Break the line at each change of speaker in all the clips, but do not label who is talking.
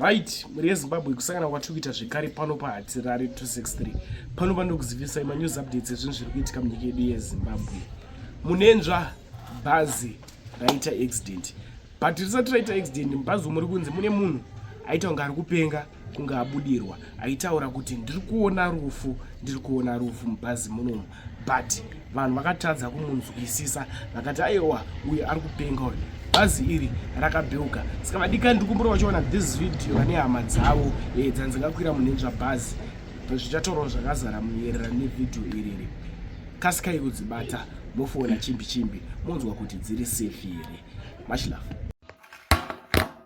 right mhuri yezimbabwe kusangana kwatiri kuita zvekare pano pahatirari 263 pano pandokuzivisa manews updates ezvinhu zviri kuitika munyika yedu yezimbabwe munenzva bhazi raita accident but risati raita accident mubhazi umuri kunzi mune munhu aita kunge ari kupenga kunge abudirwa aitaura kuti ndiri kuona rufu ndiri kuona rufu mubhazi munomu but vanhu vakatadza kumunzwisisa vakati aiwa uye ari kupenga uyu bhazi iri rakabheuka saka vadikani ndiri kumbura vachiona this video vane hama dzavo eh, dzanzingakwira munhenzva bhazi zvichataurawo zvakazara muerera nevideo iriri kasikai kudzibata mofona chimbi chimbi monzwa kuti dziri safe here machilove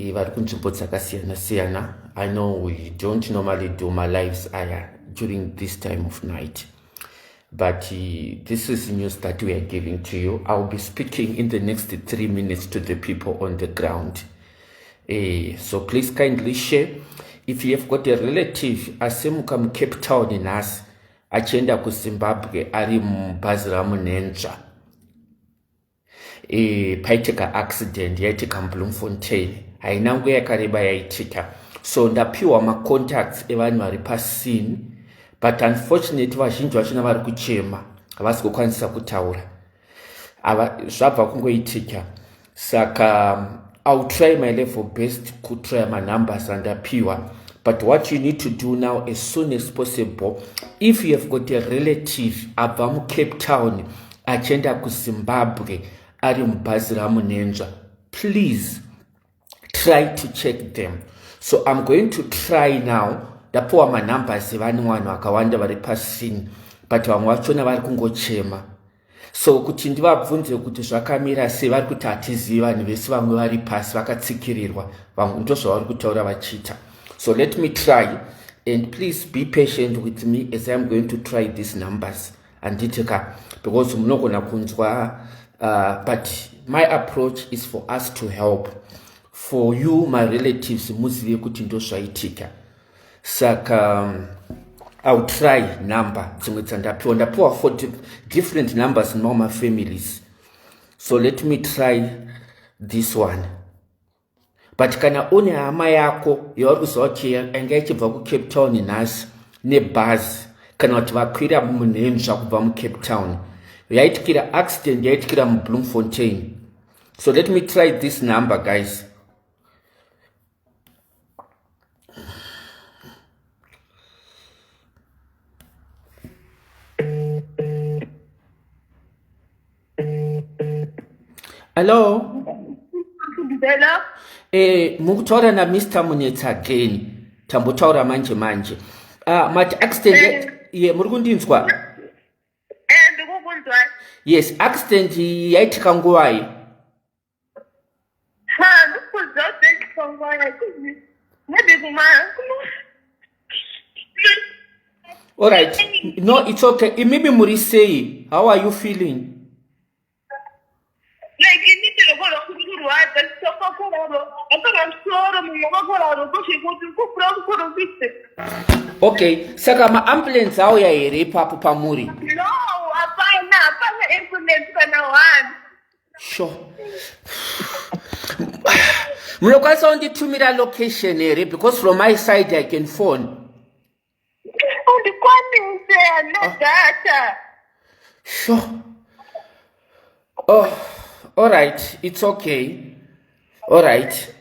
Eh, vari kunzvimbo dzakasiyana siyana i know we don't normally do my lives aya during this time of night but eh, this is news that we are giving to you iwill be speaking in the next three minutes to the people on the ground uh, so please kindly share if you have got a relative asimuka mucape town nhasi achienda kuzimbabwe ari mubhazi ramunenzva e, paitika accident yaitika mubloomfontein haina nguva yakareba yaitika so ndapiwa macontacts evanhu vari pasini but unfortunately vazhinji vachona vari kuchema havasi kukwanisa kutaura zvabva kungoitika saka um, iwill try my level best kutrya manumbers andapiwa but what you need to do now as soon as possible if you have got a relative abva mucape town achienda kuzimbabwe ari mubhazi ramunenzva please try to check them so iam going to try now ndapiwa manumbers evane vanhu vakawanda vari pasini but vamwe vachona vari kungochema so kuti ndivabvunze kuti zvakamira sei vari kuti hatizivi vanhu vese vamwe vari pasi vakatsikirirwa vamwe ndozvavari kutaura vachiita so let me try and please be patient with me as iam going to try these numbers handiti ka because munogona kunzwa uh, but my approach is for us to help for you my relatives muzive kuti ndozvaitika saka um, iwill try number dzimwe dzandapiwa ndapiwa for different numbers in all my families so let me try this one but kana une hama yako yauri kuziva kuti yanga ichibva kucape town nhasi nebhazi kana kuti vakwira munhenzva kubva mucape town yaitikira accident yaitikira mubloomfontain so let me try this number guys Hello. Hello.
Eh,
mukutaura na Mr. Munetsa again. Tambotaura manje manje. Ah, uh, mati accident eh. ye muri kundinzwa? Eh,
ndikukunzwa. Yes,
accident yaitika nguvai?
All
right. No, it's okay. Imimi muri sei? How are you feeling? okay saka maambulensi auya here ipapo pamuri no
hapana hapana ambulance kana one
sho munokwanisa kunditumira location here because from my side i can phone
undikwanise ane ah. data
sho oh all right it's okay Alright.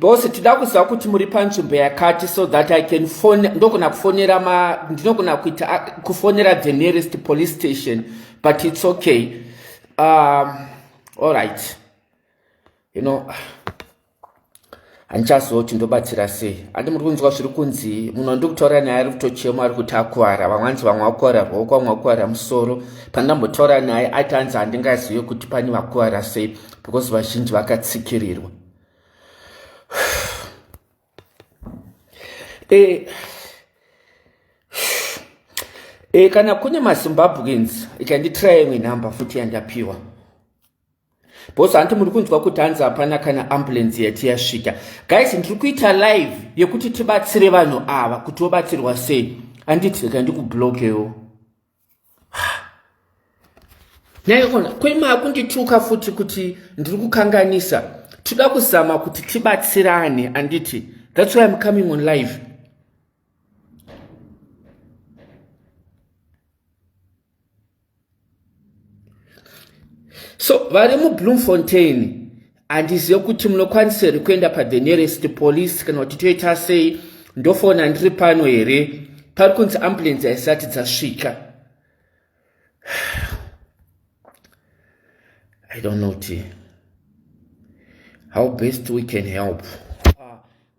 Boss tida kuziva kuti muri panzvimbo yakati so that I can phone ndogona kufonera ma ndinogona kuita kufonera the nearest police station but it's okay. Um all right. You know handichazoti ndobatsira sei handi muri kunzwa zviri kunzi munhu wandiri kutaura naye ari kutochema ari kuti akuvara vamwe anzi vamwe vakuvara ruoko vamwe vakuvara musoro pandambotaura naye aiti anzi handingazive kuti pane vakuvara sei because vazhinji vakatsikirirwa e, e, kana kune mazimbabweans ikanditiraya imwe nhamba futi yandapiwa bhosi hanti muri kunzwa kuti hanzi hapana kana ambulensi yati yasvika guys ndiri kuita live yekuti tibatsire vanhu ava kuti vobatsirwa sei handiti rega ndikublokewo naiona kwema kundituka futi kuti ndiri kukanganisa toda kuzama kuti tibatsirane anditi thats why im coming on live so vari mubloomfontain handizive kuti munokwanisa here kuenda pathe nearest police kana kuti toita sei ndofona ndiri pano here pari kunzi ambulensi haisati dzasvika i don't know ti how best we can help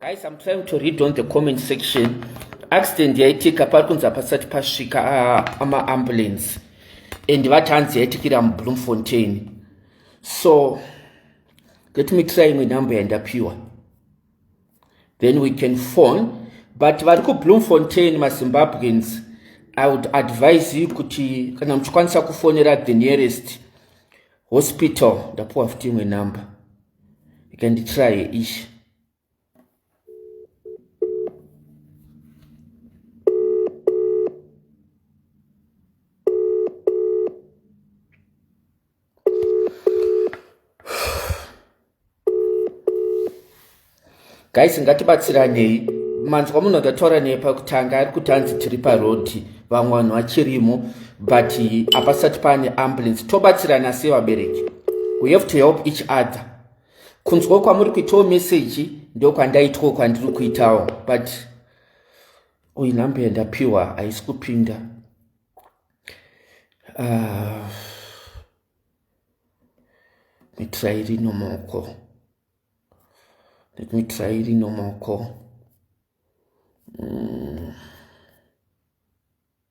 Guys, I'm trying to read on the comment section. Accident yaitika pari kunzi hapasati pasvika ah, amaambulance and vatanzi yaitikira mubloomfontain so let me try imwe number yandapiwa then we can phone but vari kubloomfontain mazimbabweans i would advise you kuti kana muchikwanisa kufonera the nearest hospital ndapiwa futi imwe number ikanditry ishi guys ngatibatsiranei manzwa munhu akataura neye pakutanga ari kuti anzi tiri parodi vamwe vanhu vachirimo but hapasati paane ambulance tobatsirana sevabereki we have to help each other kunzwa kwamuri kuitawo meseji ndokwandaitwo kwandiri kuitawo but uyu nhambe yandapiwa haisi kupinda ah, mitirai rinomoko mitirai rinomoko mm.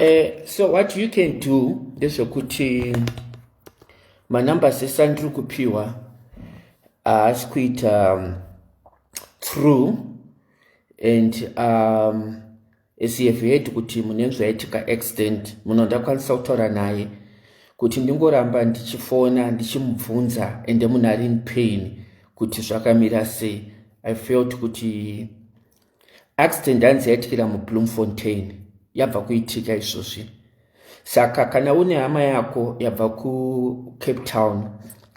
Uh, so what you can do ndezvekuti manumbers ese andiri kupiwa haasi uh, kuita um, true and um, as you have heard kuti mune zvaitika accident muno ndakwanisa kutaura naye kuti ndingoramba ndichifona ndichimubvunza ende munhu ari in pain kuti zvakamira sei i felt kuti accident hanzi yaitikira mubloomfontain yabva kuitika izvozvi saka kana une hama yako yabva kucape town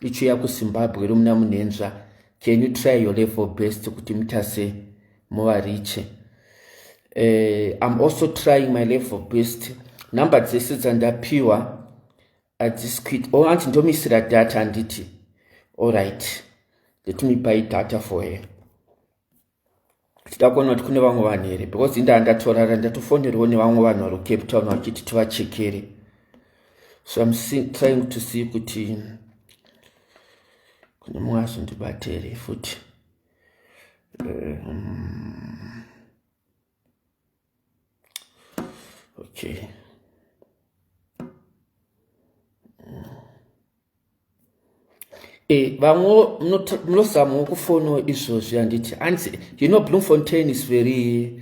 ichiuya kuzimbabwe romuna munhenzva can you try your level best kuti mutase muvariche uh, eh, im also trying my level best number dzese dzandapiwa adzisi kuit o oh, anti ndomisira data handiti allright let me buy data for her tichida kuona kuti kune vamwe vanhu here because indaa ndatorara ndatofonerwo nevamwe vanhu vari kucape town vachiti tivachekere so im trying to see kuti kune mumwe azondibatere futi um, okay Eh, vamwe munozamawo kufono izvozvi handiti hanzi you know bloemfontein is very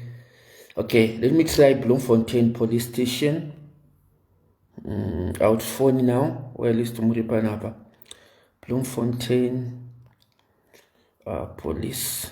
okay let me try bloemfontein police station mm, out phone now or at least muri panapa bloemfontein uh, police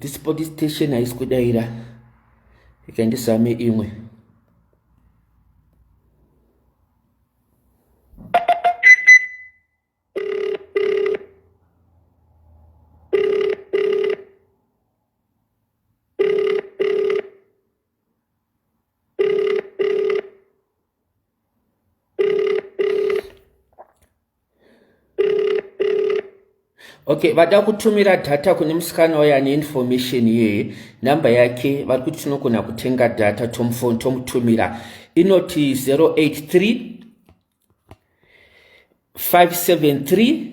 this police station haisi kudaira ikandisame imwe okay vada kutumira data kune musikana wayo ane information iyoyo number yake vari kuti tinogona kutenga data tomufoni tomutumira inoti 083 573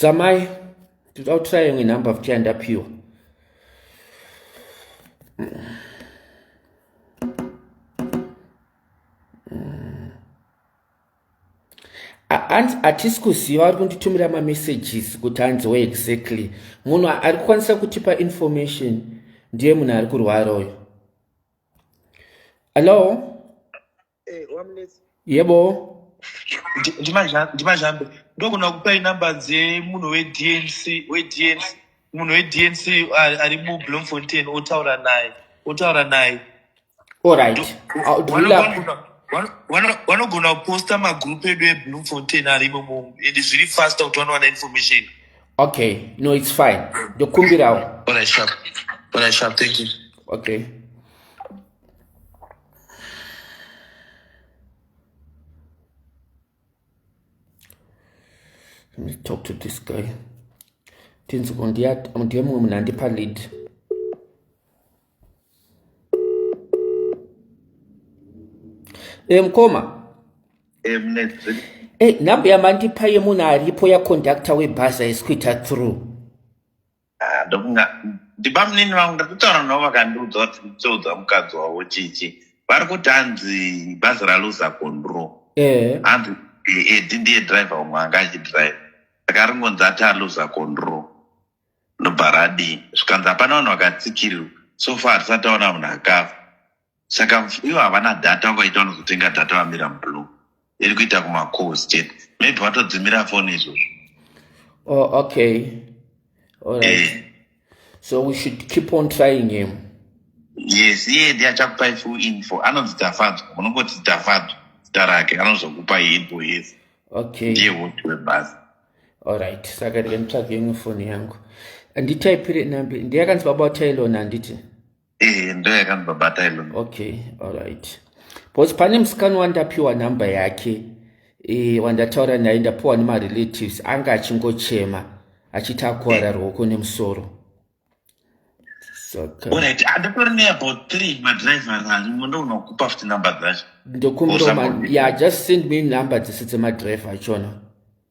zamai tinoda kutraya imwe number futi yandapiwa hanzi hatisi kuziva vari kunditumira mamessages kuti hanziwo exactly munhu ari kukwanisa kutipa information ndiye munhu ari kurwara uyo hallo yebo ndimazhambe
ndogona kupai number dzemunhu wednc wednc munhu wednc ari mublomfontain otaura naye otaura naye orit
vanogona
kuposta magroup edu eblomfontain arimo mo and zviri fasta kuti vanowana information okay
no its fine ndokumbirawo
okay
Let me talk to this guy. Tinzi ndiye mumwe munhu andipa lead. Eh mkoma. Eh mnetsi. Eh number yamandipa yemunhu aripo yaconductor webhazi haisi kuita through. Ah, ndofunga
ndibamunini vangu ndakutaura navo vakandiudza kuti ndichaudza mukadzi wavo chichi vari kuti hanzi bhazi raluza kondro eh. hanzi edi eh, ndiye driver umwe anga achidrive saka ringonzi ati aluza kondro ndobva radii zvikanzi hapana vanhu vakatsikirirwa so far hatisati aona munhu akafa saka ivo havana data vakaita vanozotenga data vamira mublue iri kuita kumacalls chete maybe vatodzimira foni izvozvo oh,
okay right. eh. so we should keep on trying him yes
iye ndi achakupai full info anonzi tafadzwa munongoti tafadzwa zita rake anozokupai info yes okay ndiye woti
webhasi
allright
saka ndike nditsvage imwe foni yangu nditaipire nambi ndiyakanzi baba utailona handiti Eh, ndo
yakandibabata ilo okay alright
because pane musikana wandapiwa nhamba yake e, wandataura naye ndapiwa nemarelatives anga achingochema achiti akuwara eh. ruoko nemusoro
ndokumbiroma
ya just send me number dzese dzemadriver achona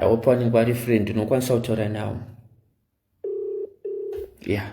I hope vanenge vari free ndinokwanisa kutaura navo yeah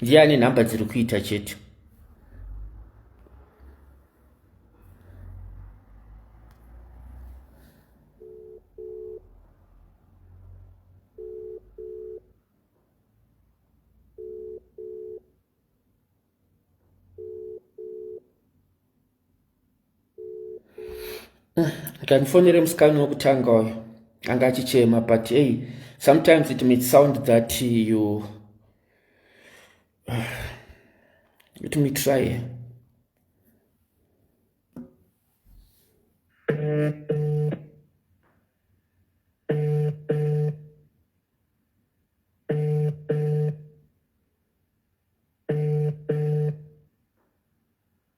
ndiye ane nhamba dziri kuita chete akandifonere musikani wekutanga uyo anga achichema but hey sometimes it might sound that you let me try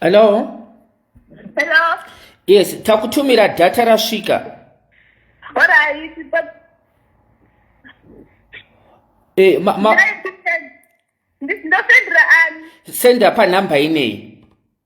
Hello?
Hello? Yes,
takutumira data rasvika.
Alright, but... Eh, ma, ma... Ndosendera ani? Senda panhamba
ineyi.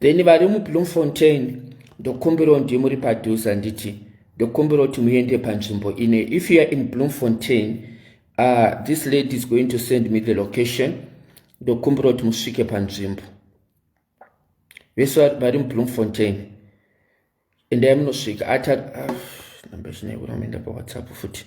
then vari mubloomfontain ndokumbirawo ndiye muri padhuze handiti ndokumbirawo kuti muende panzvimbo ine if youare in bloomfontain uh, this lady is going to send me the location ndokumbirawo kuti musvike panzvimbo vese vari mubloomfontain endai munosvika ata ah, namba zvinaikuramenda pawhatsapp futi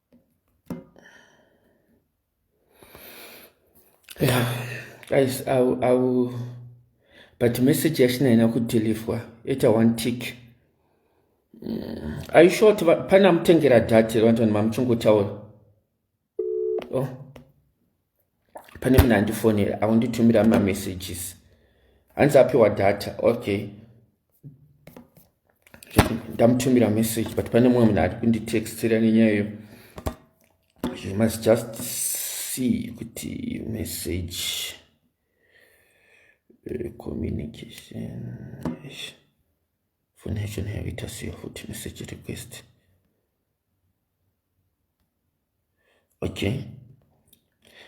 Yeah, guys, I will, I will, but message yachina haina kudhilivhwa ita one tick mm, are you sure kuti pane amutengera dhati vanhu mamuchingotaura oh. pane munhu andifonera akunditumira mamessages hanzi apiwa data okay ndamutumira message but pane mumwe munhu ari kunditextira nenyaya iyo you must just see kuti message eh, communication foni yacho nayo ita seyo futi message request okay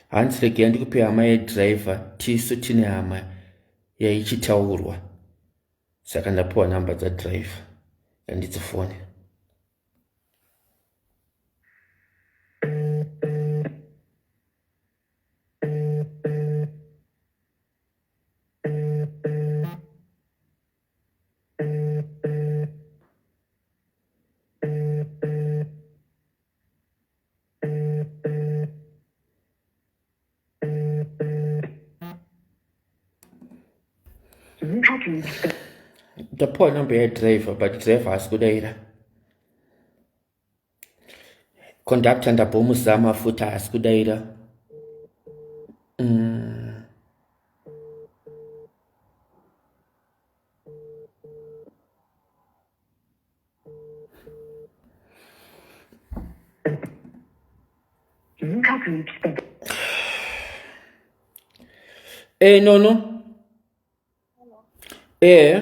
hanzi regai ndikupe hama yedriver tisu tine hama yaichitaurwa saka ndapiwa nhamba dzadriver andidzifone Ndapuwa number yadriver but driver haasi kudaira Conductor ndabomuzama futi haasi kudaira. Mm. Eh, no, no. Eh.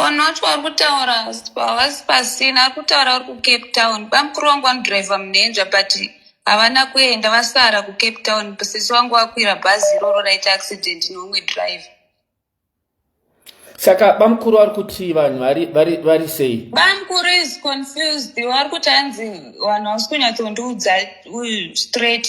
Vanhu vacho vari kutaura havasi pasina, vari kutaura vari kucape town. Bamukuru wangu vanodhiraivha munhenja but havana kuenda vasara kucape town. Sisi wangu vakwira bhazi iroro raita accident neumwe dhiraivha.
Saka bamukuru vari kuti vanhu vari sei? Bamukuru is
confused, vari kuti hanzi vanhu havasi kunyatsondiudza straight.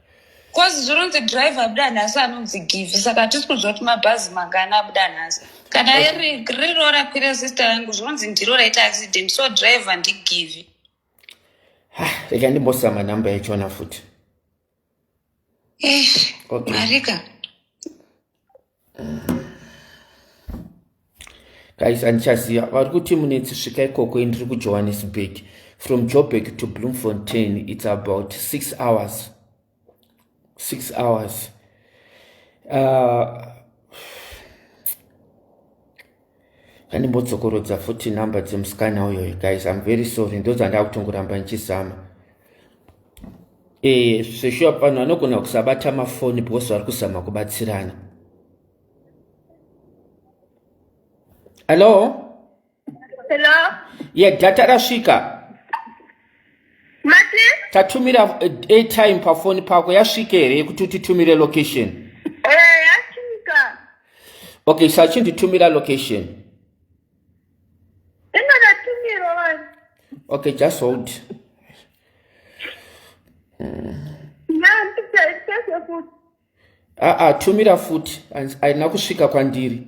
Cause
zvinonzi driver abuda nhasi anonzi give saka hatisi kuziva kuti mabhazi mangani abuda nhasi. Kana iri riri rora kwira sister yangu zvinonzi ndiro raita accident so driver ndigive.
Ha, rega ndimbosira manhamba yachona futi. Eish, Okay. marika. guys andichaziva vari kuti munetsi svika ikoko indiri kujohannesburg from joburg to bloemfontein its about six hours six hours uh, Ngandimbodzokoroza futi number dzemusikana uyoyo guys I'm very sorry ndodzandakutongoramba ndichizama eh seshuwa vanhu vanogona kusabata mafoni because vari kuzama kubatsirana hello hello ye
yeah, data
rasvika
mati tatumira
eh, airtime pafoni pako yasvika here yekuti utitumire location eh, yasvika okay sachinditumira location ingakatumira
vanhu okay just
hold aa
ah, ah,
tumira futi haina kusvika kwandiri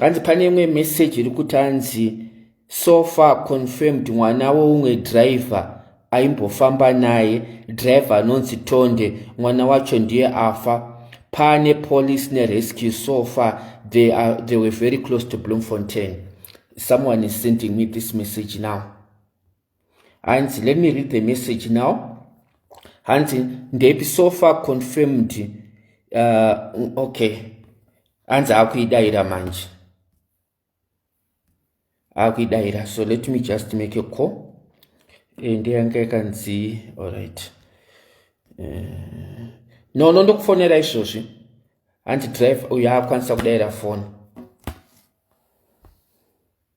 hanzi pane imwe message iri kuti hanzi so far confirmed mwana weumwe driver aimbofamba naye driver anonzi tonde mwana wacho ndiye afa pane police nerescue so far they, are, they were very close to bloomfontain someone is sending me this message now hanzi let me read the message now hanzi ndepi so far confirmed uh, okay hanzi akuidaira manje akuidaira so let me just make a call eh, ndeyanga yakanzi allright uh, eh, no no ndokufonera izvozvi hanzi drive uyo akwanisa kudaira foni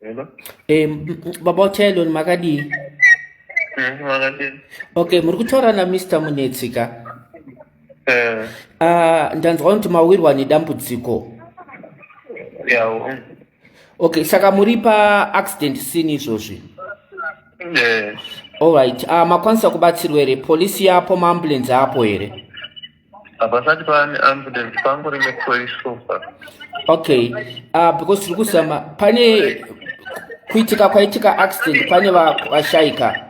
Hello? Eh, m- m- baba utelon makadii Eh, makadii? okay muri kutaura namr munetsi ka Eh, Ah, ndanzwa kuti mawirwa nedambudziko
yawo.
okay saka muri pa accident scene izvozvi Eh, alright uh, makwanisa kubatsirwa here polisi yapo maambulenzi apo here hapasati
pava neambulance pangori nepolice sofa okay
uh, because tiri kuzama pane kuitika kwaitika accident pane vashaika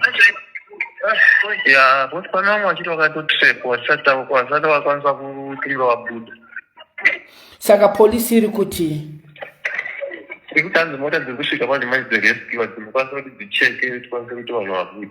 ya
kuti pane vamwe vachiti vakatotrap vasati vakwanisa kutinga vabuda
saka polisi iri kuti
iri kutanzi mota dziri kusvika pane manje dzerescue dzimokwanisa kuti dzicheke tikwanise kuti vanhu vabuda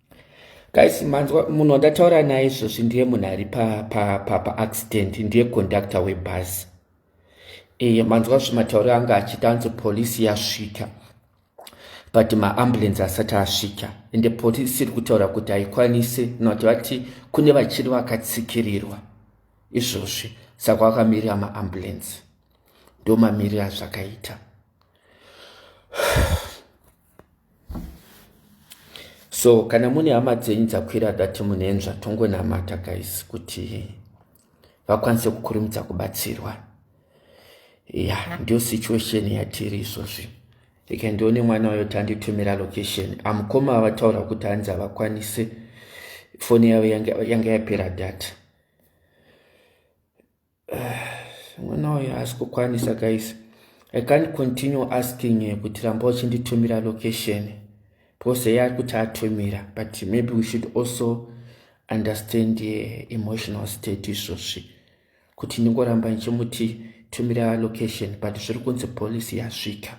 guys manzwa munhu wandataura naye izvozvi ndiye munhu ari paaccident pa, pa ndiye kondakta webhazi e, manzwa zvimatauro anga achiita anzi polisi yasvika but maambulensi asati asvika ende polisi iri kutaura kuti haikwanise nokuti vati kune vachiri vakatsikirirwa izvozvi saka vakamirira maambulensi ndomamirira zvakaita so kana mune hama dzenyu dzakwira dati munenzva tongonamata guys kuti vakwanise kukurumidza kubatsirwa ya ndiyo situation yatiri izvozvi ika ndione mwana wayo tanditumira location amukoma avataura kuti hanzi havakwanise foni yavo yanga yapera data mwana uyu haasi kukwanisa guys i can't continue asking eh, kuti ramba uchinditumira location pose yaari kuti atumira but maybe we should also understand the eh, emotional state izvozvi kuti ndingoramba ndichimuti tumira location but zviri kunzi policy yasvika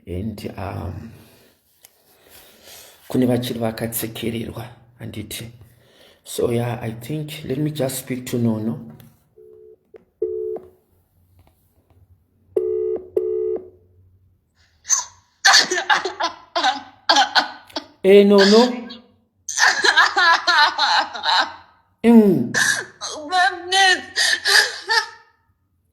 and um, kune vachiri vakatsekererwa handiti so ya yeah, i think let me just speak to nono e eh, nono mm.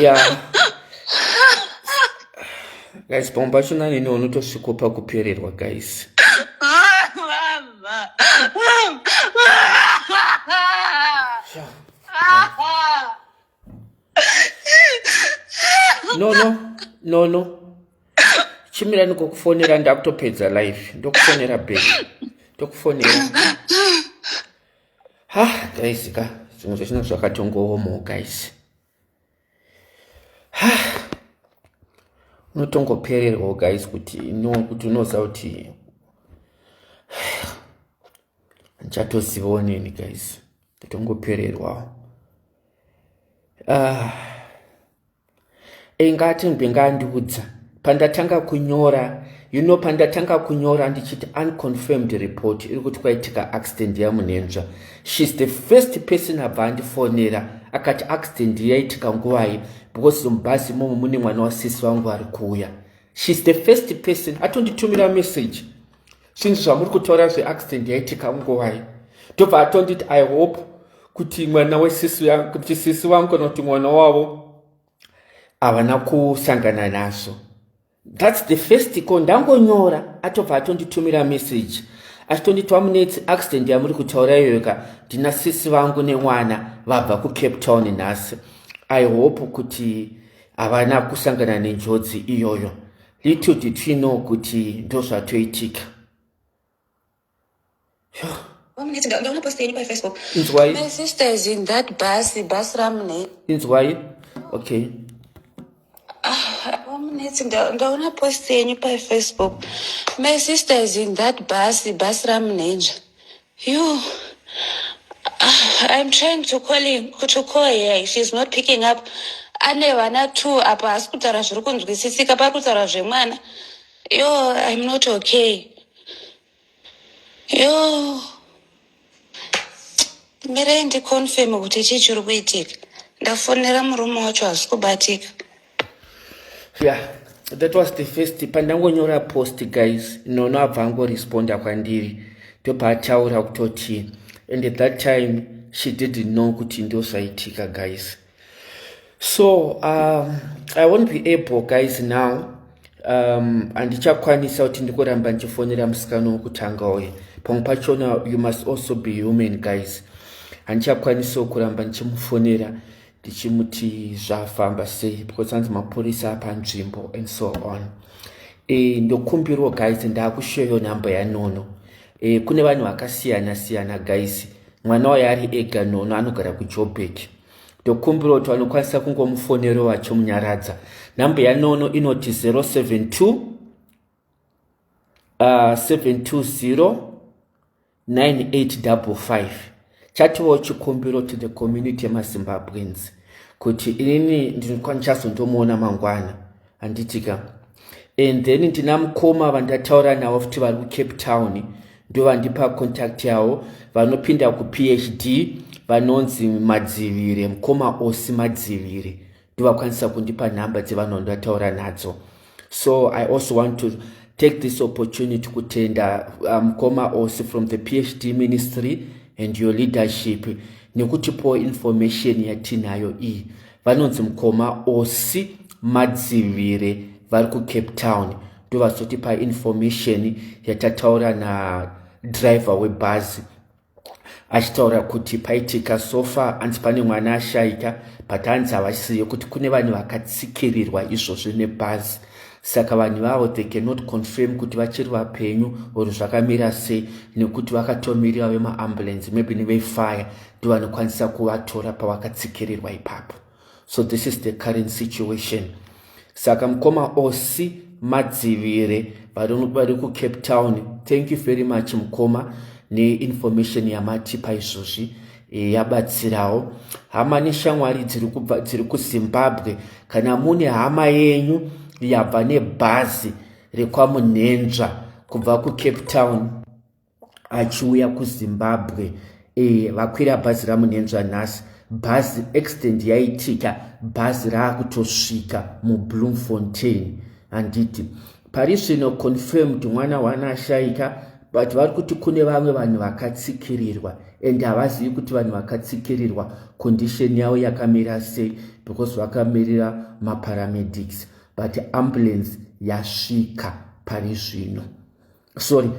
yeah guys pamwe pacho nanini unotosvikopa kupererwa guys no no no no chimira ndikokufonera ndakutopedza live ndokufonera be ndokufonera ha guys ka zvimwe zvechina zvakatongowomo guys ha unotongopererwa guys kuti no kuti unoziva kuti ndichatozivawo nini guys Tongopererwa. Ah. Inga atimbi ngandiudza pandatanga kunyora you know pandatanga kunyora ndichiti unconfirmed report iri kuti kwaitika accident yamunenzva shes the first person abva andifonera akati accident yaitika nguvai because mubhasi imomo mune mwana wasisi vangu vari kuuya shes the first person atonditumira message zvinhu zvamuri kutaura zveaccident yaitika nguvai ndobva atonditi i hope kuti mwana wesisi kuti sisi vangu kana kuti mwana wavo havana kusangana nazvo thats the first ko ndangonyora atobva atonditumira message achitonditwa munetsi accident yamuri kutaura iyoyo ka ndina sisi vangu nemwana vabva kucape town nhasi i hope kuti havana kusangana nenjodzi iyoyo Little did she know kuti ndozvatoitika. Inzwai. My
sister
is in that bus,
bus ramune. Inzwai.
Okay. Ah,
vamunetsi ndaona post yenyu pafacebook. My sister is in that bus, bus ramune inzva. Yoo I'm trying to call him to call her she's not picking up ane vana two apa haasi kutaura zviri kunzwisisika pari kutaura zvemwana yo I'm not okay yo mirai ndiconfirm kuti chii chiri kuitika ndafonera murume wacho haasi kubatika
yeah that was the first pandangonyora post guys nono abva angoresponda kwandiri ndopaataura kutoti and at that time she didn't know kuti ndozvaitika guys so um, i won't be able guys now um, andichakwanisa kuti ndikuramba ndichifonera musikana wokutanga uye pamwe pachona you must also be human guys handichakwanisawo kuramba ndichimufonera tichimuti zvafamba sei because anzi mapurisa panzvimbo and so on e, ndokumbirwo guys ndakushoyo nhamba yanono e, kune vanhu vakasiyana siyana guys mwana wayo ari ega nono anogara kujobek ndokumbirwo kuti vanokwanisa kungomufonero vachomunyaradza nhamba yanono inoti 072 uh, 720 9855 chatiwo chikumbiro to the community yemazimbabweans kuti inini ndinokwandichazondomuona mangwana handitika and then ndina mukoma vandataura navo futi vari kucape town ndovandipa contact yavo vanopinda kuphd vanonzi madzivire mukoma osi madzivire ndovakwanisa kundipa nhamba dzevanhu vandataura nadzo so i also want to take this opportunity kutenda uh, mukoma um, osi from the phd ministry and your leadership nekutipo information yatinayo iyi vanonzi mukoma osi madzivire vari kucape town ndovazotipa information yatataura nadriver webhazi achitaura kuti paitika sofa anzi pane mwana ashaika but anzi havasiye kuti kune vanhu vakatsikirirwa izvozvo nebhazi saka vanhu vavo they cannot confirm kuti vachiri vapenyu or zvakamira sei nekuti vakatomirira vemaambulensi maybe nevefire ndivanokwanisa kuvatora pavakatsikirirwa ipapo so this is the current situation saka mukoma osi madzivire vari kucape town thank you very much mukoma neinformation yamatipa izvozvi e, yabatsirawo hama neshamwari dziri kuzimbabwe kana mune hama yenyu yabva nebhazi rekwamunhenzva kubva kucape town achiuya kuzimbabwe e, vakwira bhazi ramunenzva nhasi bhazi accident yaitika bhazi raakutosvika mubloom fontain handiti pari zvino confirmed mwana wana ashaika but vari kuti kune vamwe vanhu vakatsikirirwa and havazivi kuti vanhu vakatsikirirwa condition yavo yakamira sei because vakamirira maparamedics but ambulance yasvika pari zvino sorry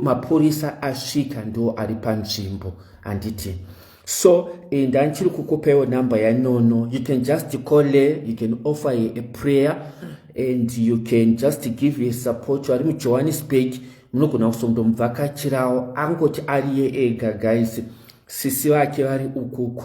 mapurisa asvika ndo ari panzvimbo handiti so eh, ndandichiri kukupaiwo number yanono you can just call her you can offer her a prayer and you can just give her support ari mujohannesburg munogona kusondomubvakachirawo angoti ariye ega guys sisi vake vari ukuku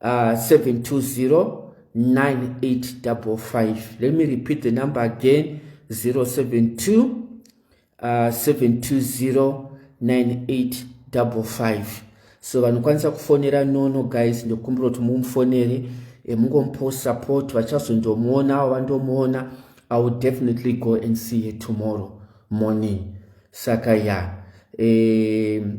uh, 7209855 let me repeat the number again 072 uh, 7209855 so vanokwanisa kufonera nono guys ndokumbira kuti mumufonere eh, mungomupost support vachazondomuona avo vandomuona i will definitely go and see her tomorrow morning saka ya yeah. um,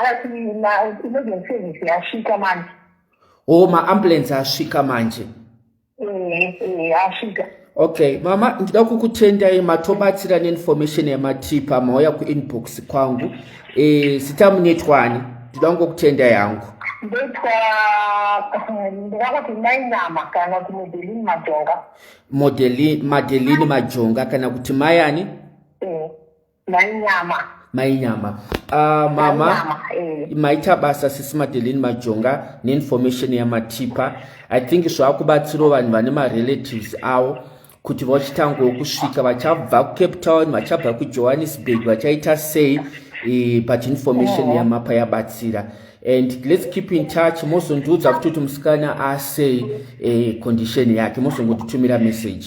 Akati ma-emergency service yasvika manje. Oh,
ma-ambulance asvika manje. Eh, eh, asvika.
Okay, mama
ndida kukutendai matobatsira neinformation yamatipa mauya kuinbox kwangu. Eh, sita munetwani. Ndida kungokutenda yangu. Ndetwa
eh, ndakati mai Nama kana kuti Modeline Majonga. Modeline
Madeline Majonga kana kuti mai ani? mainyama mainyama uh, mama eh. maita basa sisi madelin majonga neinformation yamatipa i think zvakubatsirawo vanhu vane marelatives avo kuti vachitangawo kusvika vachabva kucape town vachabva kujohannesburg vachaita sei e, but information oh. yamapa yabatsira and let's keep in touch mozondiudza futi kuti musikana asei e, condition yake mozongotitumira message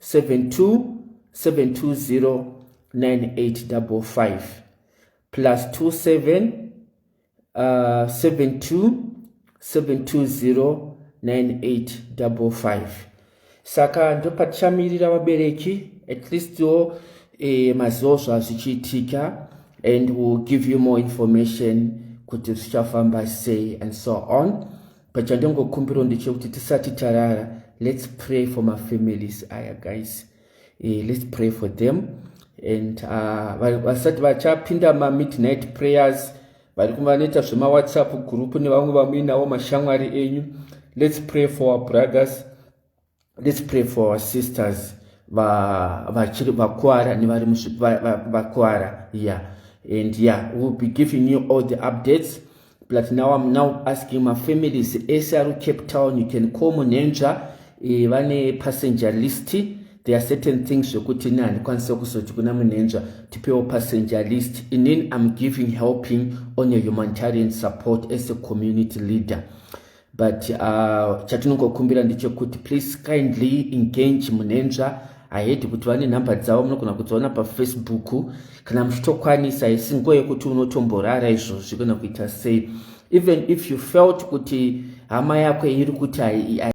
72720985 plus 27 uh, 72720985 saka ndopatichamirira vabereki at least wo eh, mazivo zvazvichiitika and will give you more information kuti zvichafamba sei and so on but chandongokumbiro ndechekuti tisati tarara let's pray for mafamilies aya guys eh, let's pray for them and ah, vasati uh, vachapinda mamidnight prayers vari vanoita zvemawhatsapp group nevamwe vamuinawo mashamwari enyu let's pray for our brothers let's pray for our sisters vachiri va, vakuwara nevari vakuwara va, va, yeah and yeah we'll be giving you all the updates but now i'm now asking my families ese ari cape town you can call munenzva e, vane passenger list there are certain things zvekuti ne handikwanisa kuzoti kuna munenzva tipewo passenger list inin i'm giving helping on a humanitarian support as a community leader but uh, chatinongokumbira ndechekuti please kindly engage munenzva ahedi kuti vane nhamba dzavo munogona kudziona pafacebook kana muchitokwanisa isi nguva yekuti unotomborara izvozvi kana kuita sei even if you felt kuti hama yako iri kuti